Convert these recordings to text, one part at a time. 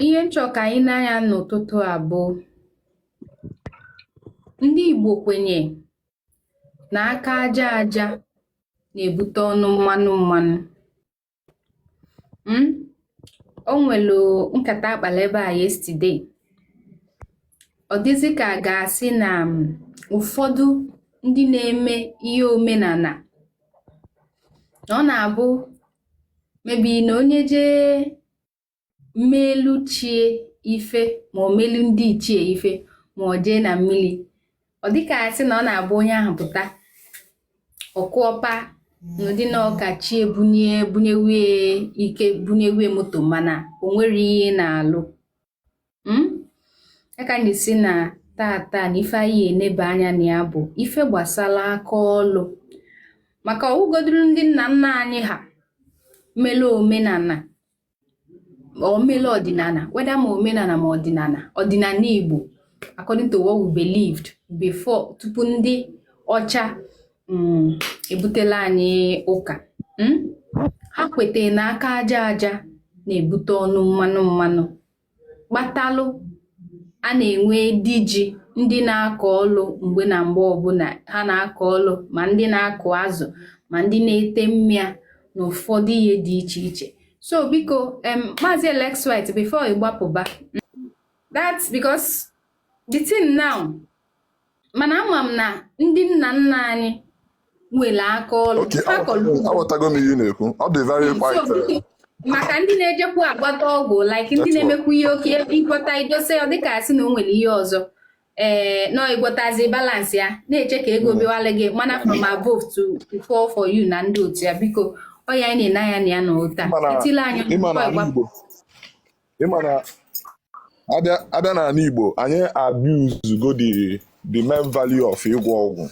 ihe m chọ ka anyị nee anya n'ụtụtụ a bụ ndị Igbo kwenye na aka aja aja na-ebute ọnụ mmanụ mmanụ hmm? o nwere nkata a kpalụ ebe a yesterday ọ dịzị ka a ga-asị na um, ụfọdụ ndị na-eme ihe omenala na ọ na-abụ maybe na onye jee melu chi ya ife ma o melu ndị ichie ife ma ọ jee na mmiri ọ dịka a sị na ọ na-abụ onye ahụ pụta ọkụọpa n'ụdị nọọ ka chi ya bunye bunyewie ike bunyewie moto mana o nwerọ ihe ọ na-alụ hmm? a ka m ji sị na taata na ife anyị eneba anya na ya bụ ife gbasara aka ọlụ maka ọ wụgodoro ndị nna nna anyị ha melu omenala or melu ọdịnala whether ma omenala ma ọdịnala ọdịnala Igbo according to what we believed before tupu ndị ọcha mm, ebutela anyị ụka hmm? ha kwete na aka aja aja na-ebute ọnụ mmanụ mmanụ kpatalụ a na-enwe di ji ndị na-akọ ọlụ mgbe na mgbe ọbụla ha na-akọ ọlụ ma ndị na-akụ azụ ma ndị na-ete mmịa na ụfọdụ ihe dị iche iche so biko em maazị Alex White before ị gbapụba that because the thing now mana ama m na ndị nna nna anyị nwere aka ọlụ Okay, ha kọrọ ugbo. aghọtago m ihe ị na-ekwu ọ dị very So, quite biko, maka ndị na-ejekwu agwọta ọgwụ like ndị That's na-emekwu ihe okay ị gwọta i dose ọ dịka a sị na o nwere ihe ọzọ ee nọọ ị gwọtazi balance ya na-eche ka ego bịawala gị manna from above to to fall for you na ndị otu ya biko ọ ya anyị na-ene anya na ya n'ụtụ a Ịma na- etila anya ịma na n'ụkọ ala ịgba- Igbo ị ma na a bịa a bịa n'ala Igbo anyị abuse go the the main value of ịgwọ ọgwụ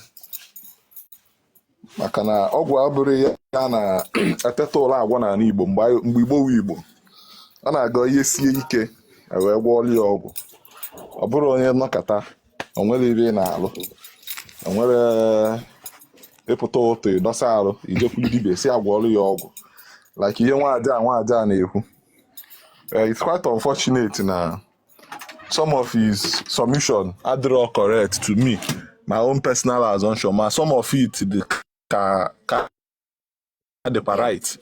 maka na ọgwụ abụrọ ihe a na-eteta ụra agwọ n'ala Igbo mgbe anyị- mgbe Igbo wu Igbo a na-aga ihe sie ike e wee gwọọla ya ọgwụ ọ bụrọ onye nọkata o nwerọ ebe ị na-alụ o nwerọ ị pụta ụtụ ị dọsa arụ i jekwuru dibịa sị a gwọọlụ ya ọgwụ like ihe nwaada a nwaada a na-ekwu Eh, it's quite unfortunate na some of his submission adịrọ correct to me my own personal assumption ma some of it dị ka ka dịkwa right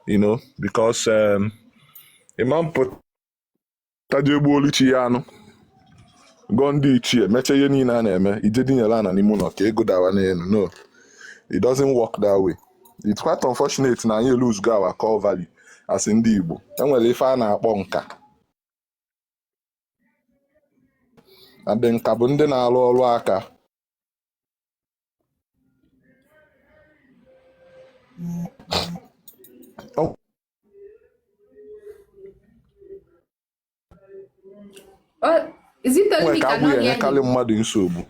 you know because um, ị ma-apụta jee gbuolu chi ya anụ gọọ ndị ichie mechaa ihe niile a na-eme i jee dinyere ana n'ime ụlọ ka ego dawa n'elu no it doesn't work that way it's quite unfortunate na anyị lose go our core value as ndị Igbo enwere ife a na-akpọ nka and nka bụ ndị na-arụ ọrụ aka nwere ka agwụ ya enyekarị mmadụ nsogbu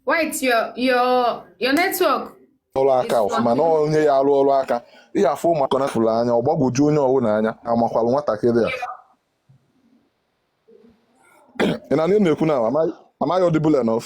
White, your your your network. ọrụ aka ọfụma na onye ya arụ ọrụ aka ihe afọ ụmụaka nafụrụ anya ọ gbagwoju onye ọbụla anya amakwalụ nwatakịrị a ị na na-ekwu na am I audible enough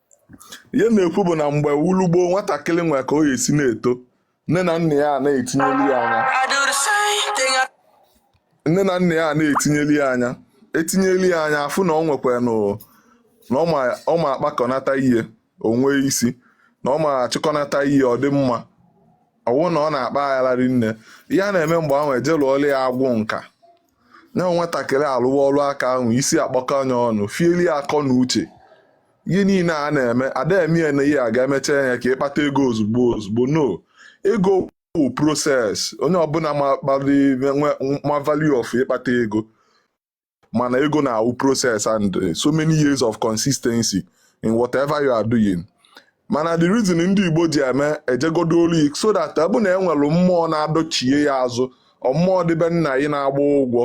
ihe m na-ekwu bụ na mgbe wulu gboo nwatakịrị nwee ka o ya esi na-eto nne na nna ya na-etinyeli ya anya etinyeli ya anya a fụ na ọ nwekwara na ọ ma akpakọnata ihe o nwee isi na ọ ma achịkọnata ihe ọ dị mma ọ wụ na ọ na-akpa agharị n'ihe a na-eme mgbe ahụ e jee lụọla ya agwụ nka ya nwatakịrị alụwa ọrụ aka ahụ isi akpọkọ anya ọnụ fieli akọ na uche ihe niile a na-eme ada eme ya na ihe a ga-emecha ya ka ịkpata ego ozugbo ozugbo no ego bụ process onye ọbụla ma value of ịkpata ego mana ego na-awụ process and eh, so many years of consistency in whatever you are doing mana the reason ndị Igbo ji eme ejegodo olu so that ọ bụ na enwere mmụọ na-adọchie ya azụ ọ mmụọ dị be nna yi na-agba ụgwọ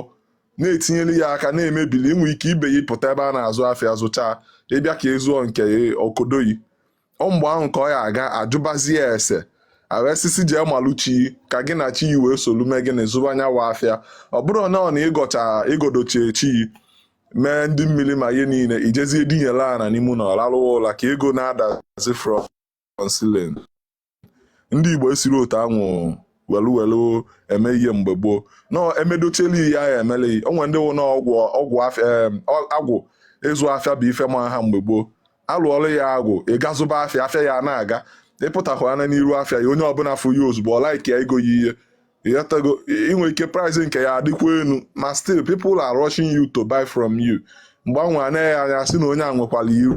na-etinyere ya aka na-emebili i nwee ike ibe ya pụta ebe a na-azụ afịa zụchaa ị bịa ka ị zụọ nke o kodo yi ọ mgbe ahụ ka ọ ya aga ajụbazie ese a wesisi jee malụ chi ka gị na chi yi wee solu mee gịnị zụba nya nwa afịa ọ bụrụ na ọ na ị gọdochie chi yi mee ndị mmiri ma ihe niile i jezie dinyela ana n'ime ụnọ rarụwa ụla ka ego na-adazi from ceiling ndị igbo esiri otu anwụ welu welu eme ihe mgbe gboo na emedochela ihe ahụ emeleghị o nwee ndị wụ na agwụ agwụ afịa em, ọ- agwụ ịzụ afịa bụ ife ma ha mgbe gboo alụọla ya agwụ ị gaa zụba afịa afịa ya na-aga ị pụtakwa anya n'iru afịa ya onye ọbụla fụ ya ozugbo ọ like ya egoo ya ihe ị ghọtago i nwee ike price nke ya adịkwa elu ma still people are rushing you to buy from you mgbe anwa anaghị anya sị na onye a nwekwara iru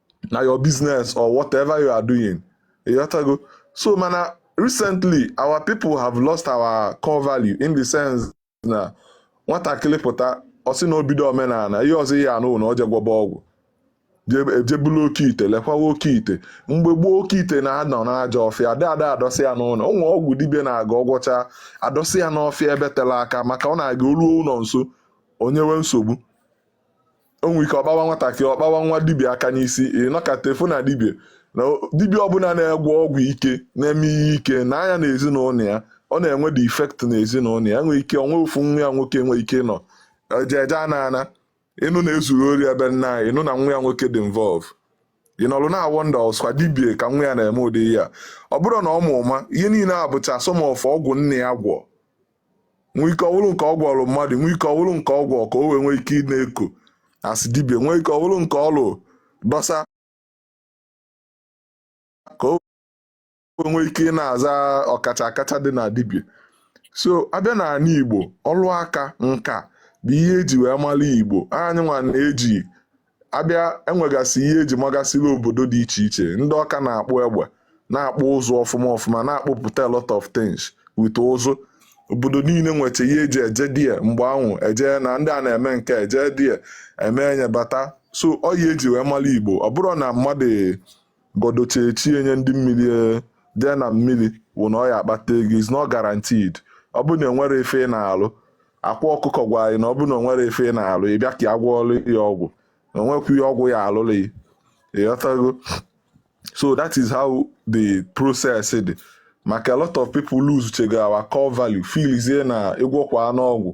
na your business or whatever you are doing ị ghọtago so mana recently our people have lost our core value in the sense na nwatakịrị pụta ọ sị na o bido omenala ihe ọzọ ị ya-anụ na o je gwọba ọgwụ e jee bulu oke ite lekwawa oke ite mgbe gboo oke ite na-anọ n'aja ọfịa ada ada adọsị ya n'ụlọ ụmụ ọgwụ dibịa na-aga ọgwọcha adọsị ya n'ọfịa ebe tela aka maka ọ na-aga o luo ụlọ nso o nyewe nsogbu o nwee ike ọ kpawa nwatakịrị ọ kpawa nwa dibịa aka n'isi ị nọkata ị fụ na dibịa na dibịa ọbụla na-agwọ ọgwụ ike na-eme ihe ike nee anya na ezinụlọ ya ọ na-enwe the effect na ezinụlọ ya nwee ike o nwee ofu nwa ya nwoke nwee ike nọ eje eje ana ana ị nụ na e zuru ori ebe nna anyị ị nụ na nwa ya nwoke dị involve ị nọrụ na-awonder ọswa dibie ka nwa ya na-eme ụdị ya ọ bụrụ na ọ ma ụma ihe niile a bụcha some of ọgwụ nne ya gwọ nwee ike ọ wụrụ nke ọ gwọrọ mmadụ nwee ike ọ wụrụ nke ọ gwọrọ ka o wee nwee ike ị na-eko a sị dibia nwee ike ọ wụrụ nke ọ lụrụ dọsa ka o wee nwee ike ị na-aza ọkacha akacha dị na dibia so a bịa na ala igbo ọrụ aka nka bụ ihe e ji wee mara igbo anyị nwa na-eji a bịa e nwegasị ihe e ji magasịrị obodo dị iche iche ndị ọka na-akpụ egbe na-akpụ ụzụ ọfụma ọfụma na-akpụpụta a lot of things with ụzụ obodo niile nwecha ihe e ji eje die mgbe ahụ e jee na ndị a na-eme nke eje die eme enye bata so ọ ya e ji wee mara igbo ọ bụrụ na mmadụ Gọdo chi chie nye ndị mmiri ee jee na mmiri wụ na ọ ya akpata ego is not guaranteed ọ bụrụ na o nwere ife ị na-alụ akwa ọkụkọ gwa anyị na ọ bụrụ na o nwere ife ị na-alụ ị bịa ka ya gwọọlụ ya ọgwụ na o nwekwu ihe ọgwụ ya alụlụ ya ịghọtago so that is how the process dị maka a lot of people losechago our core value feelizie na ị gwọkwanụ ọgwụ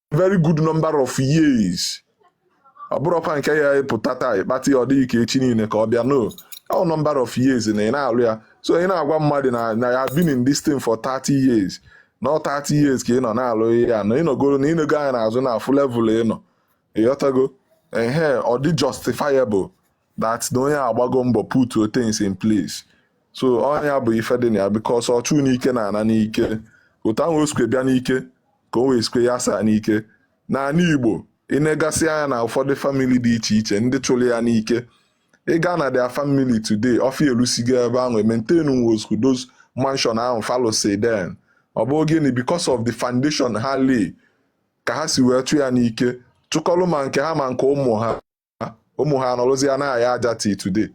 very good number of years ọ bụrọkwa nke ya ị pụta taa ị kpata ya ọ dịghị ka echi niile ka ọ bịa no ọ number of years na ị na-alụ ya so ị na-agwa mmadụ na na ya been in this thing for 30 years na 30 years ka ị nọ na-alụ ya na ị nọgoro na ị nego anya n'azụ na-afụ level ị nọ ịghọtago ehe ọ dị justifiable that na onye a gbago mbọ put things in place so ọ nya bụ ife dị na ya because ọchụ n'ike na-ana n'ike otu ahụ o sikwe bịa n'ike ka o wee sikwe ya saa n'ike n'ala igbo ị negasịa anya na ụfọdụ family dị iche iche ndị chụrụ ya n'ike ị gaa na their family today ọfịa elusigo ebe ahụ maintain was those mansion ahụ fa lụsị then ọ bụ gịnị because of the foundation ha lay ka ha si wee chụ ya n'ike chụkọlụ ma nke ha ma nke ụmụ ha ụmụ ha anọrọzi ya na-aya aja till today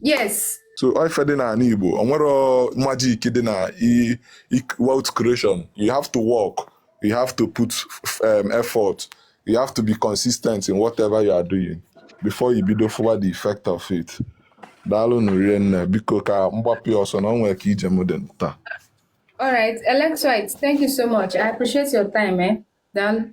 yes so ife dị n'ala Igbo o nwerọ magic dị na wealth creation you have to work you have to put um, effort you have to be consistent in whatever you are doing before i bido fụwa the effect of it daalụnụ rinne biko ka m gbapụ ọsọ na o nwere ka ije m dị taa All right, Electrolyte, thank you so much. I appreciate your time, eh? Daalụ.